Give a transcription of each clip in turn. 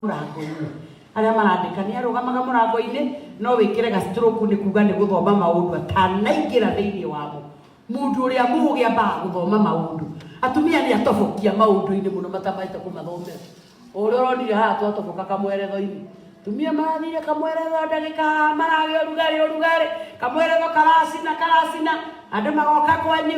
mũrango-inĩ arĩa marandĩka nĩ arũgamaga mũrango-inĩ no wĩkĩre gastroku nĩ kuga nĩ gũthoma maũndũ atanaingĩra thĩinĩ wamo mũndũ ũrĩa mũũgĩ ambaga gũthoma maũndũ atumia nĩ atobokia maũndũ-inĩ mũno matamahĩte kũmathomera ũrĩa ũronire haha twatoboka kamweretho-inĩ tumia marathire kamweretho ndagĩka maragĩa ũrugarĩ ũrugarĩ kamweretho karacina karacina andũ magoka kwanyu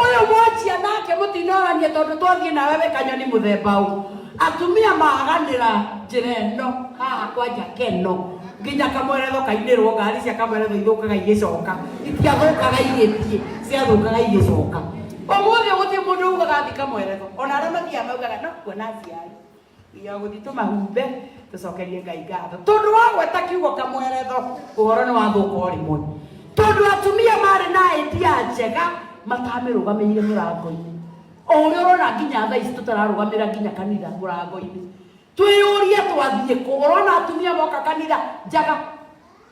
Ũyũ mwanjia nake mũtinoranie tondũ twathiĩ nawe wĩ kanyoni mũthemba ũ. Atumia maganĩra njĩra ĩno haha kwanja keno nginya kamweretho kainĩrwo ngari cia kamweretho ithũkaga igĩcoka itiathũkaga igĩthiĩ ciathũkaga igĩcoka. Ũmũthĩ gũtirĩ mũndũ ugaga thiĩ kamweretho ona arĩa mathiaga maugaga no kuona aciari. ya gũthiĩ tũmahumbe tũcokerie ngai ngatho tondũ wagweta kiugo kamweretho ũhoro nĩ wathũka o rĩmwe tondũ atumia marĩ na idea njega matamĩrũgamĩire mũrango-inĩ o ũrĩa ũrona nginya thaa ici tũtararũgamĩra nginya kanitha mũrango-inĩ twĩyũria twathiĩ kũ ũrona atumia moka kanitha njaga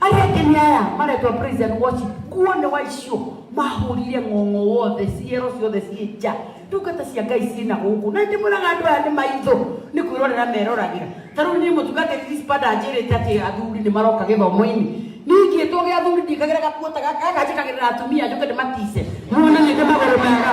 Aria angi ni aya maretwa praise and worship nguo ni wa icio mahurire ng'ong'o wothe ciero ciothe ciĩ nja ndungata cia ngai ciĩ na gũkũ na ndĩmwĩraga andũ aya nĩ maitho nĩ kwĩrorera meroragĩra ta rĩu niĩ mũtungatĩri dispada anjĩrĩte atĩ athuri nĩ maroka gĩthomo-inĩ ningĩtwo gĩa athuri ndikagĩra gakuo ta gaka gaka njĩkagĩrĩra atumia njoke ndĩmatice muone nĩ ndĩ magũrũ mega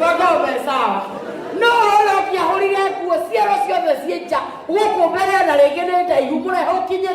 Wagombe sawa. No hora ũngĩahũrire nguo ciero ciothe ciĩ nja gũkũ mbere na rĩngĩ nĩ ndaihu mũrehe ũkinyĩte